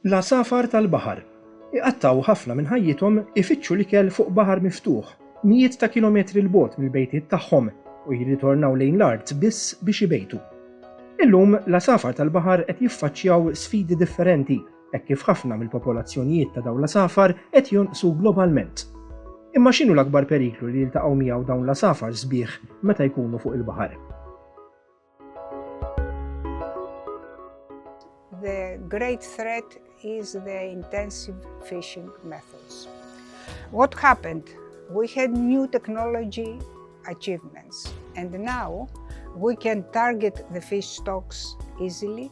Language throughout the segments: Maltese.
L-għasafar tal-baħar iqattgħu ħafna minn ħajjithom ifittxu l-ikel fuq baħar miftuħ mijiet ta' kilometri 'l bogħod mill-bejtiet tagħhom u jirritornaw lejn l-art biss biex ibejtu. Illum l-għasafar tal-baħar qed jiffaċċjaw sfidi differenti hekk kif ħafna mill-popolazzjonijiet ta' dawn l-għasafar qed jonqsu globalment. Imma x'inhu l-akbar periklu li jiltaqgħu miegħu dawn l-għasafar sbieħ meta jkunu fuq il-baħar? The great threat is the intensive fishing methods. What happened? We had new technology achievements and now we can target the fish stocks easily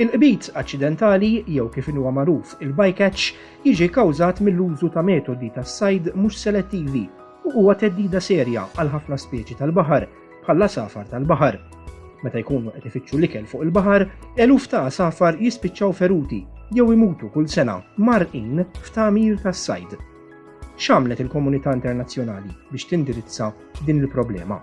Il-qbid aċċidentali, jew kif inhuwa magħruf il-bycatch, jiġi kkawżat mill-użu ta' metodi tas-sajd mhux selettivi u huwa theddida serja għal ħafna speċi tal-baħar, bħall-għasafar tal-baħar. Meta jkunu qed ifittxu l-ikel fuq il-baħar, eluf ta' għasafar jispiċċaw feruti jew imutu kull sena marqin f'tagħmir tas-sajd. X'għamlet il-komunità internazzjonali biex tindirizza din il-problema?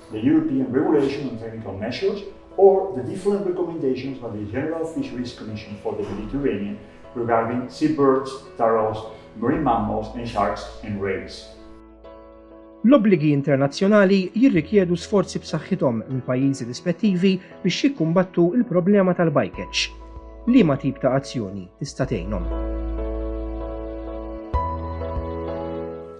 the European Regulation on Technical Measures or the different recommendations by the General Fisheries Commission for the Mediterranean regarding seabirds, turtles, marine mammals and sharks and rays. L-obbligi internazzjonali jirrikjedu sforzi b'saħħithom minn pajjiżi rispettivi biex jikkumbattu l-problema tal-bycatch. Liema tip ta' azzjoni tista' tgħinhom?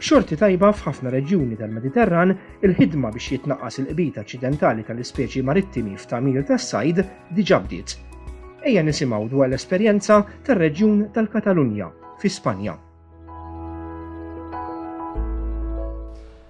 B'xorti tajba, f'ħafna reġjuni tal-Mediterran, il-ħidma biex jitnaqqas il-qbid aċċidentali tal-ispeċi marittimi f'tagħmir tas-sajd diġà bdiet. Ejja nisimgħu dwar l-esperjenza tar-reġjun tal-Katalunja, fi Spanja.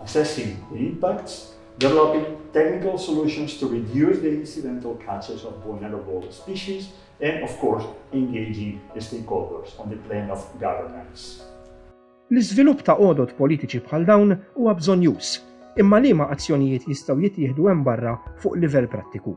assessing the impacts, developing technical solutions to reduce the incidental catches of vulnerable species, and of course engaging stakeholders on the plane of governance. L-iżvilupp ta' għodod politiċi bħal dawn huwa bżonnjuż, imma liema azzjonijiet jistgħu jittieħdu hemm barra fuq livell prattiku?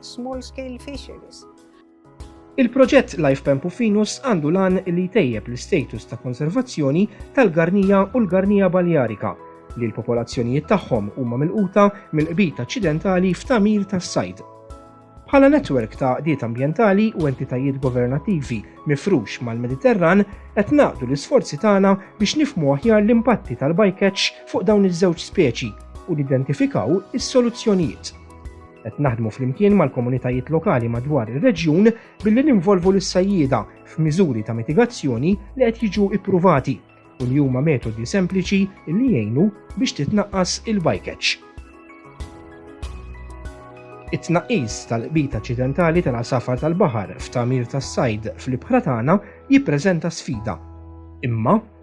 small scale fisheries. Il-proġett Life Pempufinus għandu lan li jtejjeb l-istatus ta' konservazzjoni tal-garnija u l-garnija baljarika li l-popolazzjonijiet tagħhom huma milquta mill-qbid aċċidentali f'tamir tas-sajd. Bħala netwerk ta' qdiet ambjentali u entitajiet governattivi mifrux mal-Mediterran qed naqdu l-isforzi tagħna biex nifmu aħjar l-impatti tal-bycatch fuq dawn iż-żewġ speċi u nidentifikaw is-soluzzjonijiet. Qed naħdmu flimkien mal-komunitajiet lokali madwar ir-reġjun billi ninvolvu lis-sajjieda f'miżuri ta' mitigazzjoni li qed jiġu ippruvati u li huma metodi sempliċi li jgħinu biex titnaqqas il-bycatch. It-tnaqqis tal-qbid aċċidentali tal-għasafar tal-baħar f'tagħmir tas-sajd fl-ibħra tagħna jippreżenta sfida. Imma,